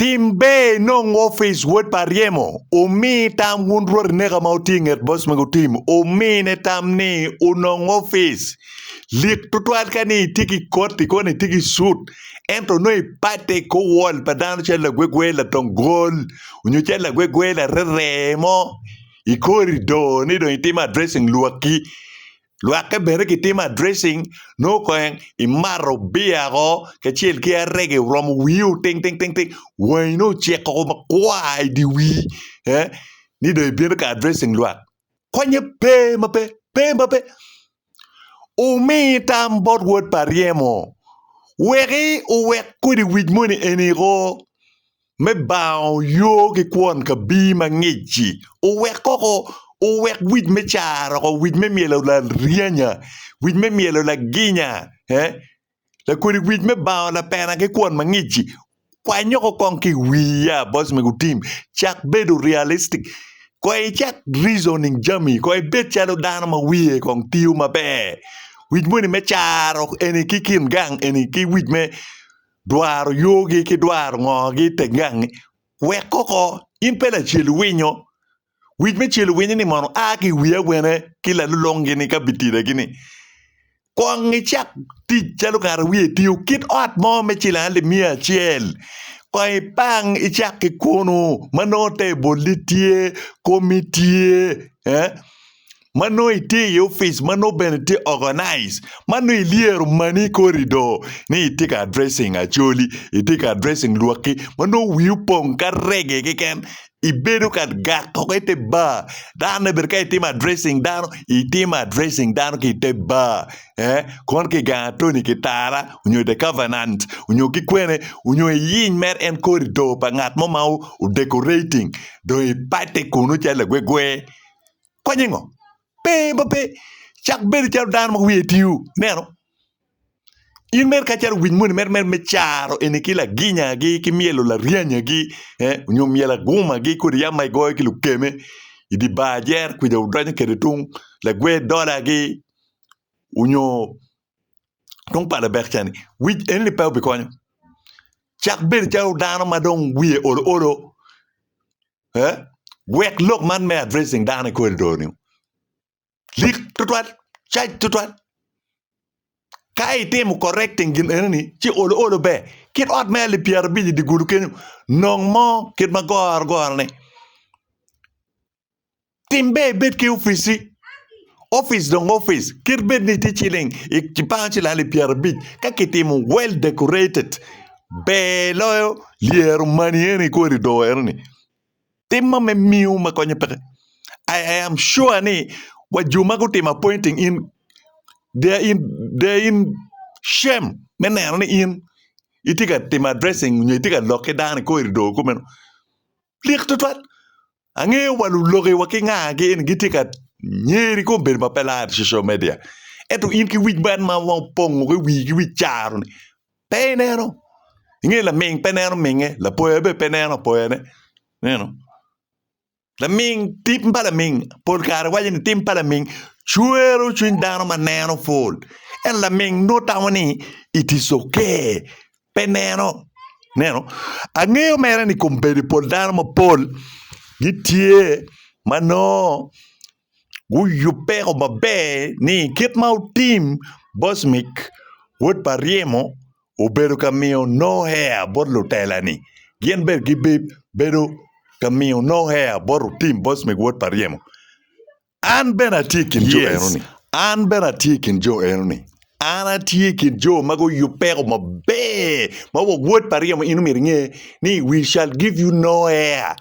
Tim ber inong opic wod pa ryemo, omi tam wun rwot ineka ma wutye inget boc mego Tim omine tam ni onong opic. Lik twatwal ka ni itye ki koti koni itye ki cut ento nongo ipate i kor wol pa dano calo lagwegwe latong gol onyo calo lagwegwe larerer mo ikori do ni dong itimo addressing lwakki Lwakke bene kitimo addressing nongo kong imato beer o kacel ki arege oromo wii o ting ting ting ting wangi nongo ocek o makwar i dye wii ni dong ibino ka addressing lwak konye pe ma pe pe ma pe omi tam bot wod pa Aryemo weki owek kodi wic moni eni oo. me bango yo ki kwon kabir ma ngic-ci, owek koko, owek wic me caro woko, wic me myelo laryanya, wic me myelo laginya, ee, lakodi wic me bango lapena ki kwon ma ngic-ci. Kwany woko kong ki i wiya, boc mego tim. Cak bedo realistic. Koy icak reasoning jami, koy ibed calo dano ma wiye kong tiyo maber. Wic moni me caro eni ki kin gang eni ki wic me. dwaro yogi ki dwaro ngogi i teng gangi, wek koko in pe lacel winyo. Wic me cel winyo ni mono a ki i wi awene ki lalulungi ni ka bitida gi ni kong i cak tic calo ngat a wiye tye okit ot mo me cilang alip miya acel kong i pang i cak ki kunu ma nongo table ni tye, komi tye, eh. ma nongo itye i opic ma nongo bene tye organized ma nongo ilyero mani i kor i doo ni itye ka addressing Acholi itye ka addressing lwakki ma nongo wii opong ka reggae keken ibedo ka gat woko ite bar dano ni bene ka itimo addressing dano itimo addressing dano ki ite bar kono ki gang atoni ki tara nyo the covenant nyo ki kwene nyo iyiny mere en kor i doo pa ngat mo ma odecorating dong ipate kunu calo lagwegwe. Konye ngo? Pe, ba pe. Cak bedo calo dano ma wiye tiu. Neno. In mere kacalo winy moni mere mere me caro eni ki laginyagi ki myelo laryanyagi eh, nyo myelo agumagi kodi yam ma igoyo ki lukeme i di bar jer kwica wudonyo kede tung lagwer dolagi onyo Dong pala bek cani wic eni ni pe obikonyo. Cak bedo calo dano ma dong wiye olo olo. Eh? Wek lok man me addressing dano i corridor ni. Lik tutwal, cac tutwal. Ka itimo correcting gin eni ni, ci olo olo ber. Kit ot me alip pyera abic i digulu kenyo, nong mo kit ma goro goro ni. Tim ber ibed ki opici. Opic dong opic kit bed ni tye ciling i bang cilali pyerabic ka kitimo well decorated ber loyo lyero mani eni kodi do ero ni tim ma me miyo ma konyo peke I am sure ni wa jo ma gutimo appointing in they are in they are in shame me neno ni in itye ka timo addressing nyo itye ka lok ki dano kodi do kumeno lik tutwal. Angeyo wa luloki wa ki nga ki en gitye ka nyeri kom bedo ma pe lar social media. Ento in ki wic man ma wang pongo ki wii ki wic caro ni pe ineno. Inge laming pe neno minge, lapoya be pe neno apoyane. Neno. Laming tim pa laming pol kare waco ni tim pa laming cwero cwiny dano ma neno pol. En laming nongo tamo ni it is okay. pe neno. Ineno? Angeyo mere ni kom bedo pol dano mapol gitye ma nongo guyubeko maber ni kit ma otim Bosmik wod pa ryemo obedo ka miyo no hea bot lutela-ni. Gin bene gibedo ka miyo no hea bot otim Bosmik wod pa ryemo. An bene atye i kin jo enoni. An bene atye i kin jo enoni. An atye i kin jo ma guyub peko maber ma wok wod pa ryemo in omyero inge ni we shall give you no air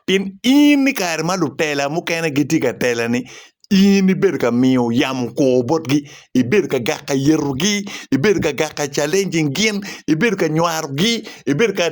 pien in i kare ma lutela mukene gitye ka telani in ibedo ka miyo yamo kor botgi ibedo ka gaka yetogi ibedo ka gaka challenging gin ibedo ka nywarogi ibedo ka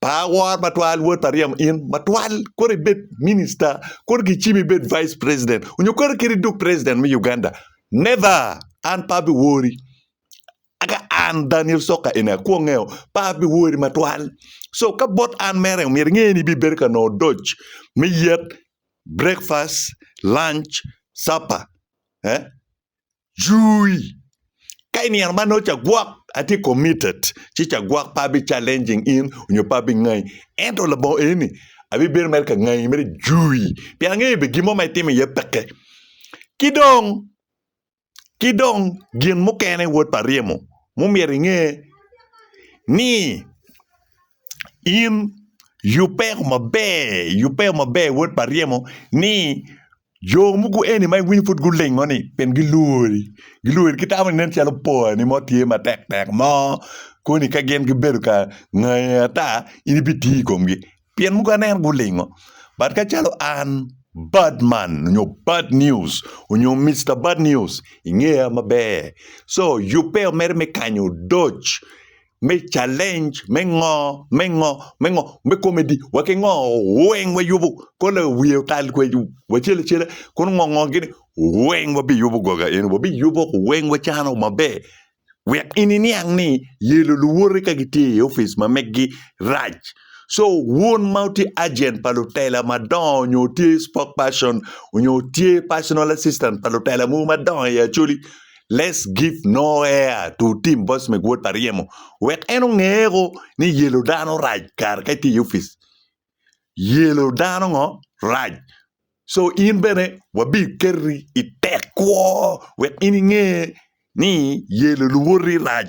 Pa awor matwal wod pa ryemo in matwal kore ibed minister kore gicimi ibed vice president onyo kore kit iduk president me Uganda never an pe abi wori aka an Daniel Soka eni akwongeo pe abi wori matwal so ka bot an mere omyero inge ni ibibedo ka nongo odoc me yet breakfast lunch supper eh Jui. Ka i nino ma nongo cagwok atye committed, ci cagwok pe abi challenging in onyo pe abi ngai. Ento labongo eni ni abibedo mere ka ngai mere jui pien angeyo be gin mo ma itimo iye peke. Ki dong, ki dong gin mukene wod pa ryemo ma omyero inge ni in yubbe maber, yubbe maber wod pa ryemo ni Jo mogo eni ma iwinyo pud gulingoni pien gilwori, gilwori gitamo nen calo porani mo tye matek tek mo koni ka gin gibedo ka ngayi ata in ibitiyo i komgi pien mogo aneno gulingo but ka calo an bad man nyo bad news nyo Mister bad news ingeya maber so yubbe omedde me kanyo odoc me challenge me ngo me ngo me ngo me comedy wa ki ngo weng wa yubu ko la wiye otal kwe wacele cele kono ngo ngo gini weng wa bi yubu goga eni wa bi yubu weng wa cano maber wek ini niang ni yelo luwote ka gitye i office ma megi rac so wun ma utye agent pa lutela madongo nyo utye spokesperson nyo utye personal assistant pa lutela mogo madongo i acholi Let's give no air to Tim Bosmek wod pa ryemo wek en ongeko ni yelo dano rac kare ka itye i opic. Yelo dano ngo rac. So in bene wabi keti i tek kwo wek in inge ni yelo luwoti rac.